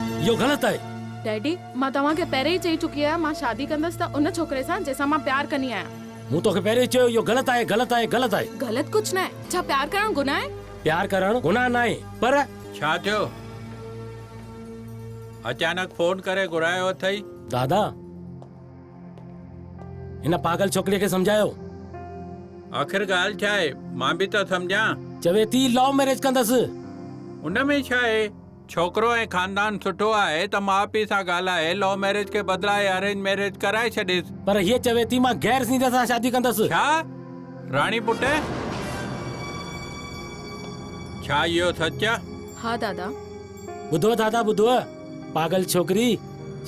اهو غلط آهي. ڊيڊي، مان توهان کي پهرين ئي چئي چڪي آهيان مان شادي ڪندس ته ان ڇوڪري سان جنهن سان مان پيار ڪندي آهيان. مون توکي پهرين ئي چيو اهو غلط آهي، غلط آهي، غلط آهي. غلط ڪجهه ناهي. ڇا پيار ڪرڻ گناهه آهي؟ پيار ڪرڻ گناهه ناهي پر. ڇا ٿيو؟ اچانڪ فون ڪري گهرايو اٿئي؟ دادا، هن پاگل ڇوڪريء کي سمجهايو. آخر ڳالهه ڇا آهي؟ مان به ته سمجهان. چوي ٿي لو ميريج ڪندس. ان ۾ ڇا آهي؟ ڇوڪرو ۽ خاندان سٺو آهي ته ماء پيء سان ڳالهائي لو ميرج کي بدلائي ارينج ميرج ڪرائي ڇڏيس. پر هيء چوي ٿي مان غير سينڌين سان شادي ڪندس. ڇا؟ راڻي پٽ! ڇا اهو سچ؟ ها دادا. ٻڌو دادا ٻڌو. پاڳل ڇوڪري!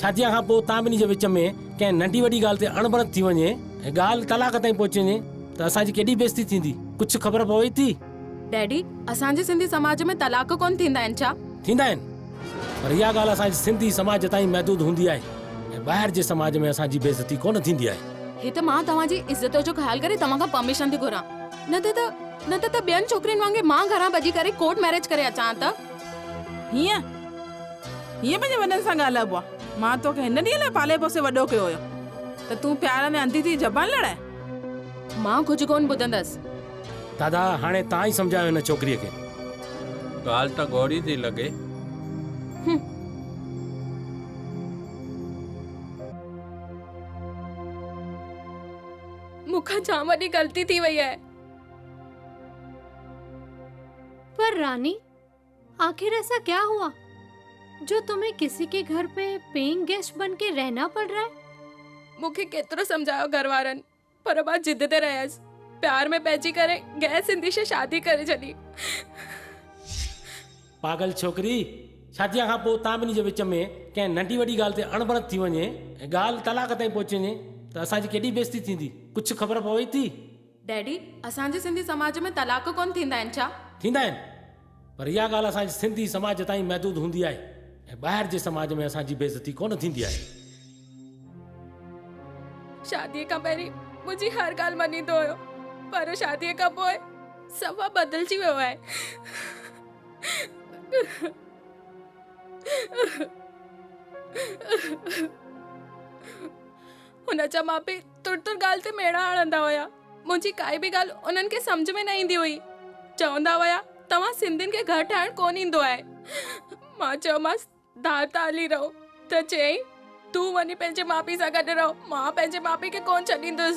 شاديء کان پوء توهان ٻنهي جي وچ ۾ ڪنهن ننڍي وڏي ڳالهه تي اڻبڻت ٿي وڃي ۽ ڳالهه طلاق تائين پهچي وڃي ته اسان جي ڪيڏي بيعزتي ٿيندي. ڪجهه خبر پوي ٿي؟ ڊيڊي اسان جي سنڌي سماج ۾ طلاق ڪون ٿيندا آهن ڇا؟ ٿيندا آهن پر اها ڳالهه اسان جي سنڌي سماج تائين محدود هوندي آهي ۽ ٻاهر جي سماج ۾ اسان جي بي عزتي ڪون ٿيندي آهي. هي ته مان توهان جي عزت جو خيال ڪري توهان کان پرميشن ٿي گهران نه ته ته نه ته ته ٻين ڇوڪرين وانگي مان گهران ڀڄي ڪري ڪورٽ ميريج ڪري اچان ها ته. هيئن هيئن پنهنجي وڏن سان ڳالهائبو آهي مان توکي هن ڏينهن لاء پالي پوسي وڏو ڪيو هيو ته تون پيار ۾ انڌي ٿي زبان لڙائين. مان ڪجهه ڪون ٻڌندس. دادا هاڻي تان ئي سمجهايو هن ڇوڪريء کي. ڳالهه ته ڳوڙهي ٿي لڳي. هم. مون کان جام وڏي غلطي ٿي وئي آهي. پر راني آخر ايسا ڪيا هئا جو تمهين ڪسي ڪي گهر پي پيئنگ گيسٽ بن ڪي رهنا پڙ رها هي. مون کي ڪيترو سمجهايو گهر وارن. پر مان ضد تي رهيس. پيار ۾ پئجي ڪري غير سنڌي سان شادي ڪري ڇڏي. پاڳل ڇوڪري! شاديء کان پوء توهان ٻنهي جي وچ ۾ ڪنهن ننڍي وڏي ڳالهه تي اڻبڻت ٿي وڃي ۽ ڳالهه طلاق تائين پهچي وڃي ته اسان جي ڪيڏي بيعزتي ٿيندي. ڪجهه خبر پوي ٿي؟ ڊيڊي، اسان جي سنڌي سماج ۾ طلاق ڪونه ٿيندا آهن ڇا؟ ٿيندا آهن. پر اها ڳالهه اسان جي سنڌي سماج تائين محدود هوندي آهي ۽ ٻاهر جي سماج ۾ اسان جي بيعزتي ڪونه ٿيندي آهي. شاديء کان پهرين منهنجي هر ڳالهه مڃيندو هيو پر شاديء کان پوء سوا بدلجي ويو آهي. هن جا ماء پيء تر تر ڳالهه تي ميڙا هڻندا هيا. منهنجي ڪائي به ڳالهه انهن کي سمجهه ۾ نه ايندي هئي. چوندا هيا، توهان سنڌين کي گهر ٺاهڻ ڪونه ايندو آهي. مان چيومانس، ڌارتا علي رئو ته چيائين، تون وڃي پنهنجي ماء پيء سان گڏ رهه، مان پنهنجي ماء پيء کي ڪونه ڇڏيندس.